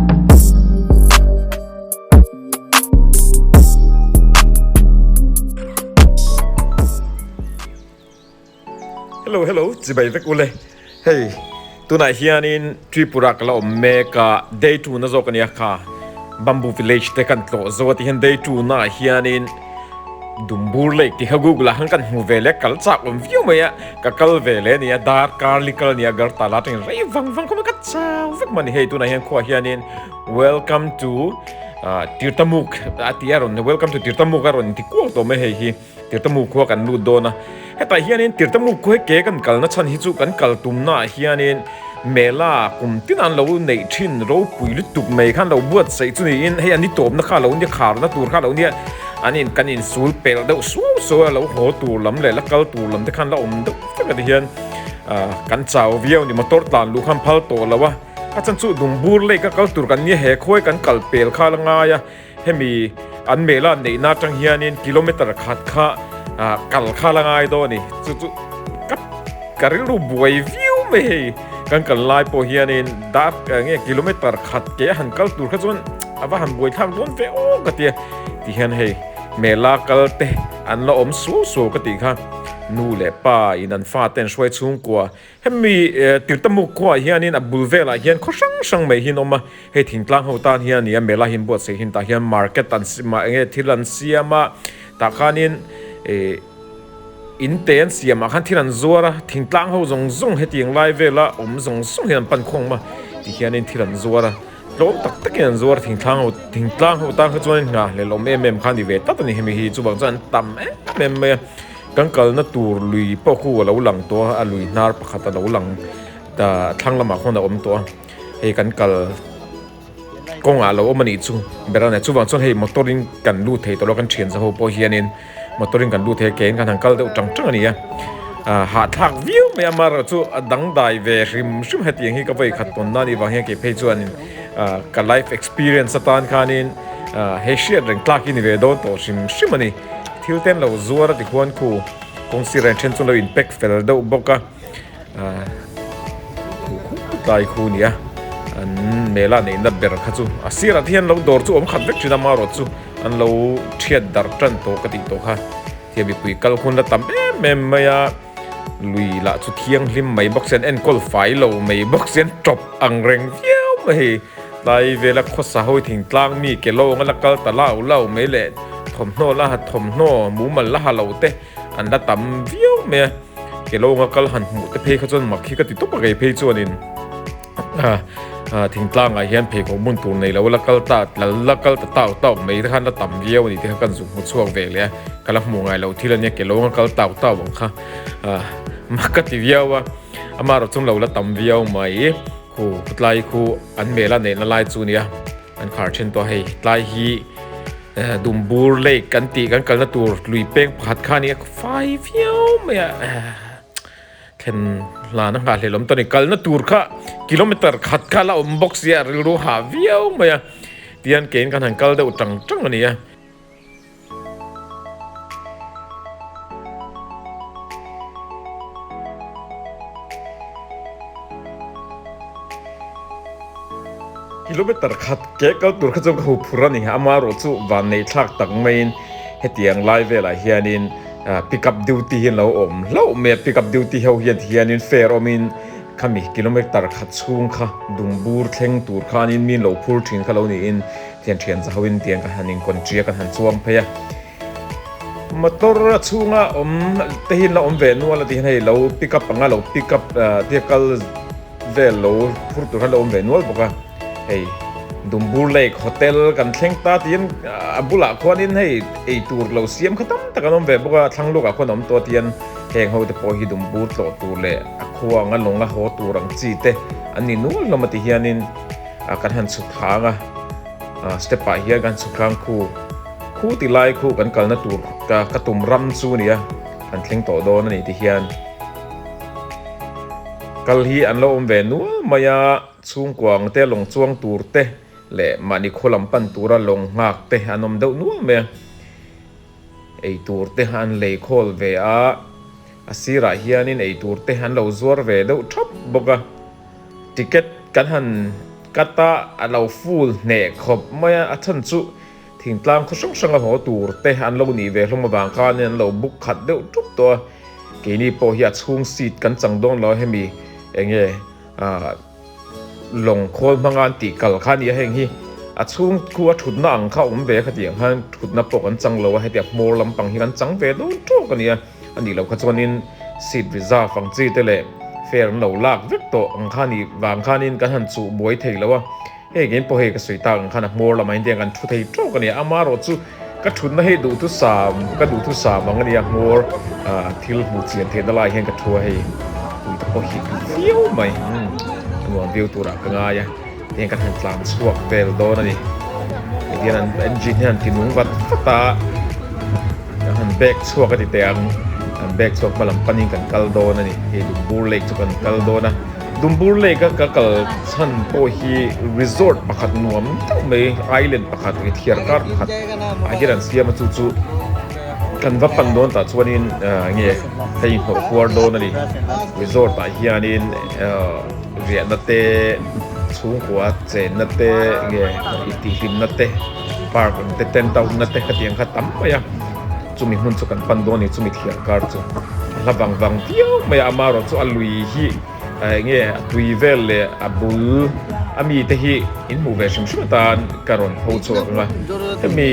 Hello hello chibai vek ule hey tunah hianin Tripura kala awm mek a day two na zawk ania kha bamboo village te kan tlawh zo a tihian day two naah hianin Dumbur lake tih kha Google ah khan kan hmu ve leh kal chak awm viau mai a, ka kal ve leh nia, dark curly kal nia gar ta la atangin rei vang vang khawp mai ka chau vek mawni hei tunah hian khuaah hianin welcome to tirtamuk a ti a rawn welcome to tirtamuk a rawn inti kual tawh mai hei hi tirtamuk khua kan lut dawn a. Hetah hianin Tirtamu khuai ke kan kalna chhan hi chu kan kal tumnaah hianin Mela kum tinah an lo neih thin ropui lutuk mai kha an lo buatsaih chu niin hei an ni tawpna kha a lo nia kharna tur kha a lo nia an in kan in sul pel deuh suau suau a lo haw tur lam leh la kal tur lam te khan la awm deuh vek a ti hian kan chau viau a ni motor tlan luh khan phal tawh lo a a chhan chu Dungbur lake a kal tur kan nia he khuai kan kal pel kha la ngai a Hemi an mehlan neihna atang hianin kilometer khat kha kal kha la ngai dawn a ni. Chu chu ka ka rilru buai viau mai hei kan kal lai pawh hianin dar nge kilometer khat ke a han kal tur kha chuan a va han buai thlak dawn ve awk a tia ti hian hei mehla kalte an la awm suau suau ka tih kha nu leh pa in an fate an hruai chhungkua Hemi Tirtamuk khuaah hianin a bul velah hian khaw hrang hrang mai hian awm a, hei thingtlang ho tan hian a ni a, mela hi an buatsaih hian tah hian market an mah nge thil an siam a, tah khanin ih in te an siamah khan thil an zuar a, thingtlang ho zawng zawng hetiang lai vela awm zawng zawng hian an pan khuang awm a, ti hianin thil an zuar a, tlawm tak takin an zuar a, thingtlang ho thingtlang ho tan kha chuan in nghah lelawm em em kha a ni ve tlat a ni, hemi hi chuvang chuan an tam em em mai a. Kan kalna tur lui pawh khu a lo lang tawh a, a lui hnar pakhat a lo lang ta a thlang lamah khawn a awm tawh a, hei kan kal kawngah a lo awm a nih chu ber a nia. Chuvang chuan hei motor in kan lut thei tawh lo a, kan thian za ho pawh hianin motor in kan lut thei a, keng kan han kal deuh ṭang ṭang a ni a. Aaa hahthlak viau mai a mar erawh chu a dangdai ve hrim hrim hetiang hi ka vawi khat tawnna a nih vang hian kei phei chuanin. Ka life experience atan khanin hei hriat reng tlak hi ni ve dawn tawh hrim hrim a ni. Thil ten lo zuar a ti huan khu kawng sirah hian then chu an lo inpek fel deuh bawk a. Thu khum tlai khu a ni a, an mela neihna ber kha chu a sirah te hian lo dawr chu a awm khat vek thin a, amarawt chu an lo thiat darh tan tawh ka tih tawh kha. Hei mipui kal hunla tam em em mai a. Lui lah chu thianghlim mai bawk sen enkawl fai lo mai bawk sen tawp ang reng viau mai hi. Tlai vela khawsa ho thingtlang mi ke lo angala kal ta lau lau mai leh thawmhnaw la ha thawmhnaw mumal la ha lo te an la tam viau mai a. Ke lo anga kal han hmuh te phei kha chuan mak hi ka ti tawp a kei phei chuan in. Thing tlangah hian pheikhawk hmun tur nei lo la kal ta, la kal ta tau tau mai te khan la tam viau a ni tih kha kan zuk hmu chhuak ve leh a, ka la hmuh ngai lo thil a nia, ke lawng a kal tau tau ang kha mah ka ti viau a, ama rawh chunglo la tam viau mai. Khu tlai khu an hmel a neihna lai chu a nia, an khar thin tawh a hei, tlai hi Dumbur Lake kan tih kan kalna tur lui peng pakhat kha a nia, ka fai viau mai a. Thlen hlana nghah hlel awm ta ni. Kalna tur kha kilometer khat kha la awm bawk sia, rilru hah viau mai a. Tihian keiin kan han kal deuh tang tang a ni a. Kilometer khat ke kal tur kha chuan ka huphur a ni. Amaherawhchu vanneihthlak tak maiin hetiang lai velah hianin. Pick up duty hi an lo awm hlauh mai a, pick up duty ho hian tihianin fare awmin khami kilometre khat chhung kha dung bur thleng tur kha anin min lo phur thin kha lo niin thian thian za hoin tiang kan han inkawn ṭi a, kan han chuang phei a. Motor a chhunga awm te hian la awm ve nual a tih hian hei lo pick up anga lo pick up vehicle-- vel lo phur tur hi a lo awm ve nual bawk a, hei Dumbur Lake Hotel kan thleng ta tiin a bulah khuanin hei ei tur lo siam kha tam tak an awm ve bawk a, a thlang lawkah khuan a awm tawh atian heng ho te pawh hi Dumbur tlawh tur leh a khuang a lawng a haw tur ang chi te an ni nual hlawm a ti hianin kan han chhuk thlâng a, step ah hian kan chhuk thlâng khu khu ti lai khu kan kalna tur ka ka tum ram chu a ni a, kan thleng tawh dawn a ni ti hian. Kal hi an lo awm ve nual mai a, chhungkua ang te lawng chuang tur te leh mahni khaw lam pan tura lawng nghak te an awm deuh nual mai a. Eitur te an lei khawl ve a, a sirah hianin eitur te an lo zuar ve deuh thap bawk a. Ticket kan han cut a, a lo full hneh khawp mai a, a chhan chu. Thingtlang khaw hrang hranga haw tur te an lo nih ve hlawm avang khanin an lo buk khat deuh ṭup tawh a, keini pawh hi a chhung seat kan chang dawn lo a hemi enge ah lawng khawl hmanga an tih kal kha a nia heng hi a chhung khua ṭhutna ang kha awm ve khatiang khan ṭhutna pawh kan chang lo a hetia hmawr lampang hi kan chang ve dawn ṭawk a nia a nih loh kha chuanin seat reserve ang chi te leh fare an lo lak vek tawh ang kha nih vang khanin kan han chuh buai thei lo a. Hei kein pawh hei ka sawi tak ang khan a hmawr lamah hian tiang kan thu thei tawk a ni. Ama erawh chu ka thutna hei duhtu sam ka duhtu sam ang a ni a, hmawr thil hmuh chian theihna lai hian ka thu a, hei tui te pawh hi tui viau mai a nuam viau turah ka ngai a, tiang ka han tlan chhuak vel dawn a ni. Hetian an engine hi a han ti nung vat vat a, ka han bag chhuak a ti teh ang, kan bag chhuak hma lam panin kan kal dawn a ni, hei duhbur lake chu kan kal dawn a. Dumbur Lake a ka kal chhan pawh hi resort pakhat nuam deuh mai island pakhat nge thiar kar pakhat ah hian an siam a chu chu kan va pan dawn tah chuan in nge hei hnawh kuar dawn a ni resort ah hian in riah na te chhungkua chen na te nge i tih hlimna te park ang te tent out na te khatiang kha tam mai a. Chumi hmun chu kan pan dawn ani chumi thian kar chu a hla vang vang viau mai a, ama erawh chu a lui hi eng nge a tui vel leh a bul a mi te hi in hmuh ve hrim hrim atan ka rawn pho chhuak ang a, hemi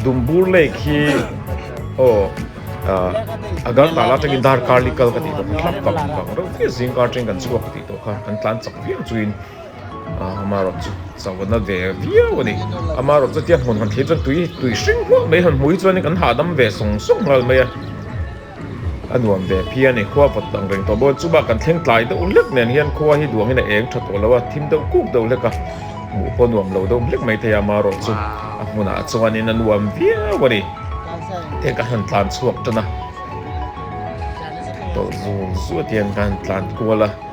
Dumbur lake hi aw Agartala atangin Darkarlikal ka tih tawh kha hlak vang vang reuh viau zingkar atangin kan chhuak ka tih tawh kha kan tlan chak viau chuin. Amarawt chu chawlhna ve viau a ni. Amarawt chu tiang hmun han thlir chuan tui tui hring hluah mai han hmu hi chuan kan hahdam ve sawng sawng nghal mai a. A nuam ve phi a ni. Khua vawt angreng tawh bawk a ni. Chumah kan thleng tlai deuh hlek nen hian khua hi duangin a eng tha tawh lo a, thim deuh kuk deuh hlek a. Hmuh pawh nuam lo deuh hlek mai thei a amarawt chu. A hmunah chuanin a nuam viau a ni. Heng ka han tlan chhuak tan a. Tawlh zul zuat hian ka han tlan kual a.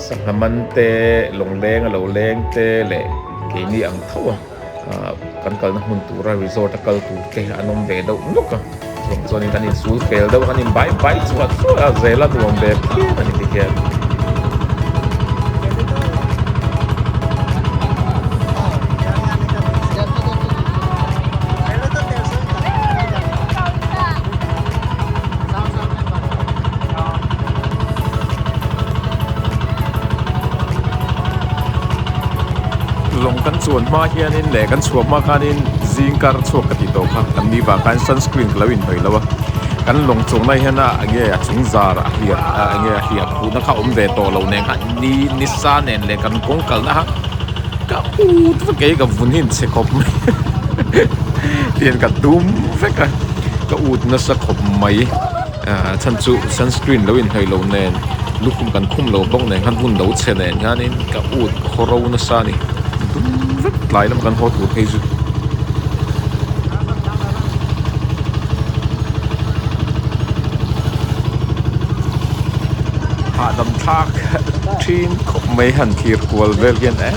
Sangha man te, lawngleng a lo leng te leh keini ang thoa kan kalna hmun tura resort a kal tur te an awm ve deuh nawk a, chuvang chuanin an insul fel deuh a, an inbai bai chhuah chhuah a, zela nuam ve phian a ni tihian. lawng kan chuan hma hian in leh kan chhuah hma khan in zing kar chhuak ka tih tawh kha kan ni vang khan sunscreen ka lo in hnawih lo a kan lawng chuang lai hian a eng nge a chung zar a hliah a eng nge a hliah phuhna kha awm ve tawh lo nen kha ni ni sa nen leh kan kawng kalna kha-- Ka ût vek e, ka vun hi an chhe khawp mai tian ka dum vek a, ka ût nasa khawp mai a, chhan chu sunscreen lo inhnawih loh nen lukhum kan khum lo bawk nen khan hun lo chhe nen hianin ka ût ka haw ro nasa a ni, dum vek tlai lam kan haw tur phei chu. Hahdam thlak. a ṭhin khawp mai han thlir kual vel hian eee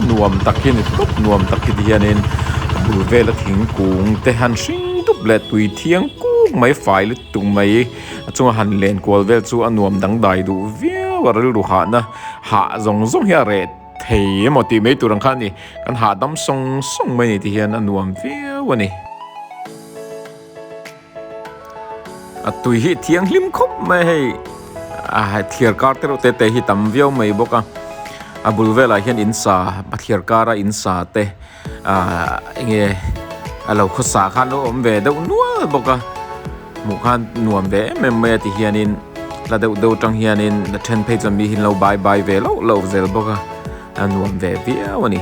nuam tak hi a ni tlup nuam tak hi ti hianin a bul vela thingkung te han hring dup leh tui thiang kuk mai fai lutuk tuk mai a chunga han len kual vel chu a nuam dangdai duh viau a rilru hahna hah zawng zawng hi a reh thei emaw tih mai tur ang kha a ni kan hahdam sawng sawng mai ni ti hian a nuam viau a ni. A tui hi thianghlim khawp mai hei. A hai thliar kar te reuh te te hi tam viau mai bawk a. A bul velah hian in sa a thliar kar a in sa te ah eng nge a lo khawsa khan a awm ve deuh nual bawk a. Hmuh khan nuam ve em em mai a ti hianin la deuh deuh tang hianin a then phei chuan mi hi an lo bai bai ve loh loh zel bawk a. A nuam ve viau a ni.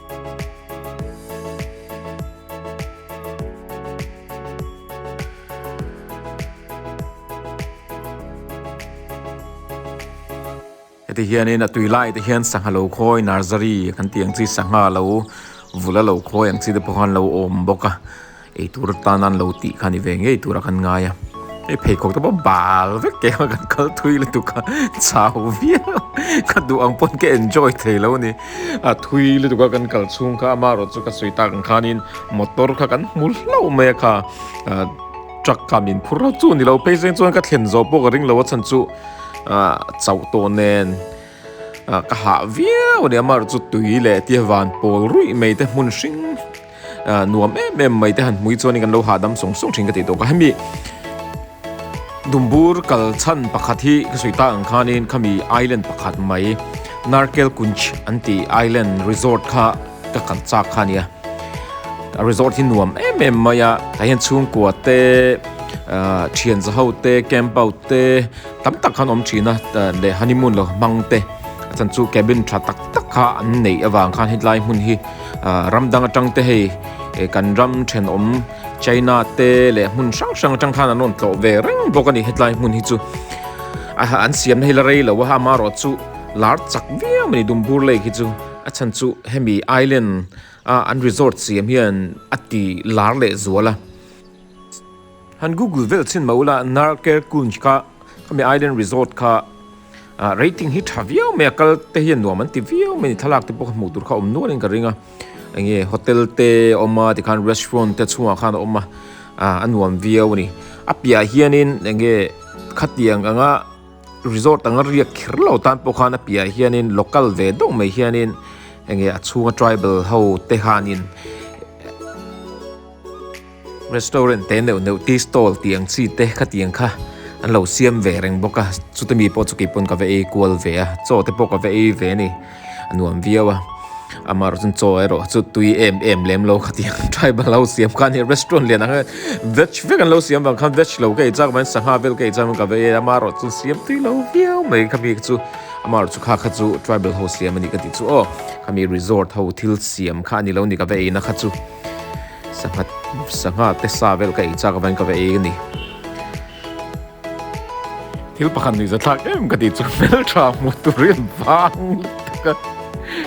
heti hian in a tui lai te hian sangha lo khawi nursery kan tih ang chi sangha lo vula lo khawi ang chi te pawh khan lo awm bawk a. Eitur atan an lo tih kha ni ve ngei tura kan ngai a, hei pheikhawk te pawh bal vek keng a kan kal thui lutuk a, chau viau ka duh ang pawn ka enjoy thei lo ni a, thui lutuk a kan kal chhung kha amarawh chu ka sawi tak ang khanin motor kha kan hmu hlauh mai a kha truck kha min phur rauh chu ni lo, phei zeng chuan ka thlen zawh pawh ka ring lo a chhan chu chauh tawh nen ka hah viau a ni, amarawh chu tui leh tia van pawl ruih mai te hmun hring. Ahh nuam em em mai te han hmui chuan in kan lo hahdam sawng sawng thin ka ti tawh ka hemi dumbur kal chhan pakhat hi ka sawi ta ang khan in khami island pakhat mai narkel kunj an ti island resort kha ka kal chak kha nia a resort hi nuam em em mai a tah hian chhungkua te ahh thian za ho te camp out te tam tak khan awm thin a leh honeymoon lo hmang te chan chu cabin tha tak tak kha an neih avang khan hetlai hmun hi Ahh ram dang atang te hei eh kan ram thenawm China te leh hmun hrang hrang atang khan an rawn tlawh ve reng bawk a ni hetlai hmun hi chu ah an siamna hi la rei lo a ama erawh chu lar chak viau mai Dumbur lake hi chu a chhan chu hemi island ah an resort siam hian a ti lar leh zual a. Han Google vel chhin mah ula Narkerkunj kha khami island resort kha ah rating hi tha viau mai a kal te hian nuam an ti viau mai a ni thlalak te pawh kha hmuh tur kha awm nual in ka ring a enge hotel te a awm a tikhan restaurant te chhungah khan a awm a ah a nuam viau a ni a piah ah hian in enge khatiang ang a resort anga riak kher lo tan pawh khan a piah ah hian in local ve deuh mai hian in enge a chhunga tribal ho te han in. Restaurant te neuh neuh tea stall tih ang chi te khatiang kha an lo siam ve reng bawk a, chute mi pawh chu kei pawn ka va ei kual ve a, chaw te pawh ka va ei ve a ni, a nuam viau a. Amaherawh chuan chaw erawh chu tui em em lem lo khatiang, tribal ho siam kha a ni, restaurant lian ang veg vek an lo siam vang kha veg lo ka ei chak avangin sangha vel ka ei chang avangin ka va ei a, amaherawh chu siam tui lo viau mai kha mi chu, amaherawh chu kha kha chu tribal ho siam a ni ka tih chu aw, kha mi resort ho thil siam kha a ni lo a ni ka va eina kha chu. Sangha sangha te sa vel ka ei chak avangin ka va ei a ni. Thil pakhat nuih zathlak em ka tih chu hmel tha hmuh tur in vang lutuk a.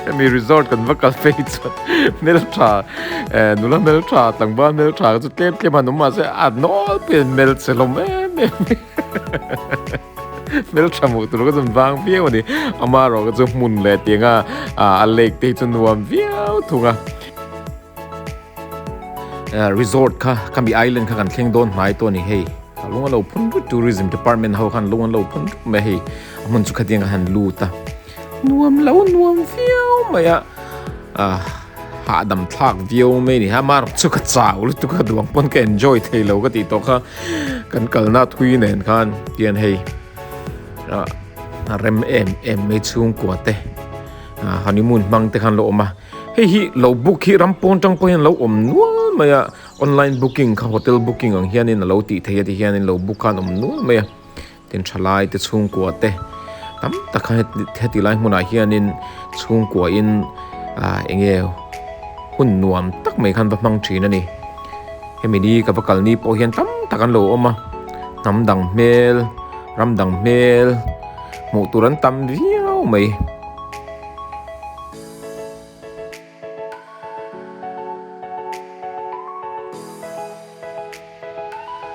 Hemi resort kan va kal phei chuan hmel tha eh nula hmel tha tlangval hmel tha chu tlem tlem an awm mahse a nawl pawh in hmel che hlawm em em mai hmel tha hmuh tur ka zun vang viau a ni. Amaherawhkha chu hmun leh tianga a lake te hi chu nuam viau thung a. Resort kha Kami Island kha kan thleng dawn hmai tawh a ni hei. Ka lung a lo phun rut Tourism Department ho khan lung an lo phun rut mai hei. A hmun chu khatiang ka han lut a. Nuam lo nuam viau mai a. Hahdam thlak viau mai a ni. Hama erawh chu ka chau lutuk a duang pawn ka enjoy thei lo ka tih tawh kha. Kan kalna thui nen khan tian hei rem em em mai chhungkua te honeymoon hmang te khan la awm a. Hei hi lo book hi ram pawn tang pawh hian lo awm nual mai a, online booking kha hotel booking ang hian in a lo tih theih a ti hian in lo book khan awm nual mai a. Tin tha lai te chhungkua te tam tak kha heti lai hmunah hian in chhungkua in ah eng nge hun nuam tak mai khan va hmang thin a ni. Hemi ni ka va kal ni pawh hian tam tak an lo awm a, hnam dang hmel, ram dang hmel hmuh tur an tam viau mai.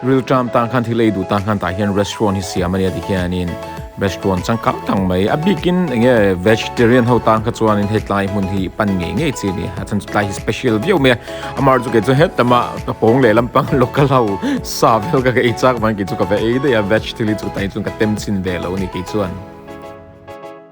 Rilṭam tan khan thilei duh tan khan tah hian restaurant hi siam a nia tikhianin restaurant changkang tak mai a bikin enge vegetarian ho tan kha chuanin hetlai hmun hi pan ngei ngei chi nia a chan chu tlai hi special viau mai a amar chu kei chu hetama ka pawng leh lampang local ho sa vel ka ei chak vang kei chu ka va ei daih a veg thil hi chu ka tem chin ve lo a ni kei chuan.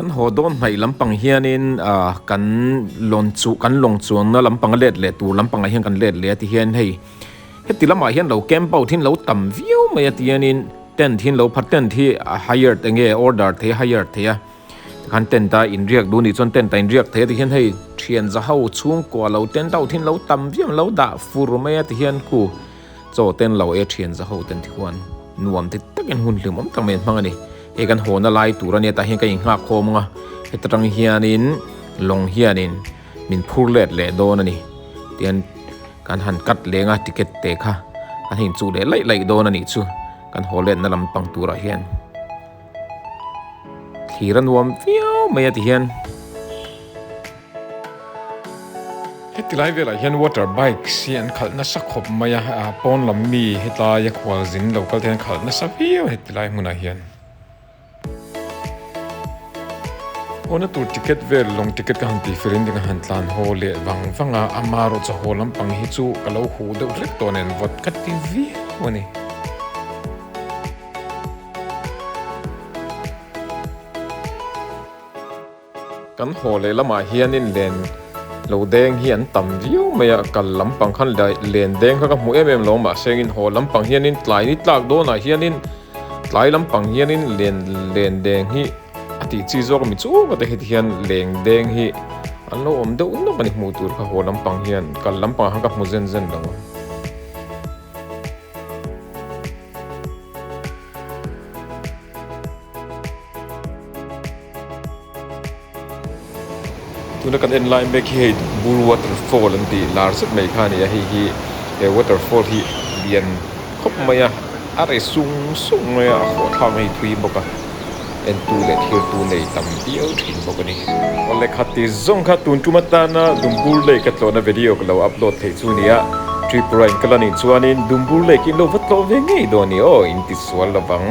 Kan haw dawn hnaih lampang hianin kan lawnchu kan lawngchuanna lampanga let leh tur lampangah hian kan let leh a ti hian hei heti lamah hian lo camp out in lo tam viau mai ati hianin tent hi an lo phat tent hi a hire eng nge order thei a hire thei a tikhan tent a inriak duh anih chuan tent a inriak thei a ti hian hei thianza ho chhungkua lo tent out in lo tam viau an lo dah fur mai a ti hian ku. Chaw ten lo e thian za ho ten chuan nuam te takin hun hlim awm tak mai an hmang a ni. Hei kan haw na lai tura netah hian ka in nghak khawm ang a, heta tang hianin lawng hianin min phur let leh dawn a ni. Tian kan han cut leng a ticket te kha kan ha in chuk leh laih laih dawn a nih chu kan haw let na lampang turah hian. Thlir a nuam viau mai a ti hian. Heti lai velah hian water bikes hi an khalh nasa khawp mai a, pawn lam mi hetlai a khual zin lo kalte an khalh nasa viau heti lai hmunah hian. Aw na tur ticket vel lawng ticket ka han tihfel in ka han tlan haw leh vang vang a, ama rawh chu haw lampang hi chu ka lo huh deuh hlek tawh a nen vawt ka ti viau a ni. Kan haw leh lamah hianin len lo deng hi an tam viau mai a, kal lampang khan len deng kha ka hmu em em lo mahse engin haw lampang hianin tlai ni tlak dawnah hianin tlai lampang hianin len len deng hi a tih chi zawk a mi chunga te hete hian leng deng hi an lo awm deuh nawk a ni hmuh tur kha haw lampang hian kal lampang kha ka hmu zen zen lo. Tuna kan en lai mek hi hei Bull Waterfall an tih lar zet mai kha a ni a, hei hi he waterfall hi lian khawp mai a, a ri sung sung mai a, a hawhthlak mai a ni thui bawk a. Entu leh thirtu nei tam viau thin bawk a ni. Awle khat ti zawng kha tun tum atana Dumbur Lake ka tlawhna video ka lo upload theih chu ni a, Tripura in ka la nih chuanin Dumbur Lake in lo va tlawh ve ngei dawn ni aw in ti sual lo vang.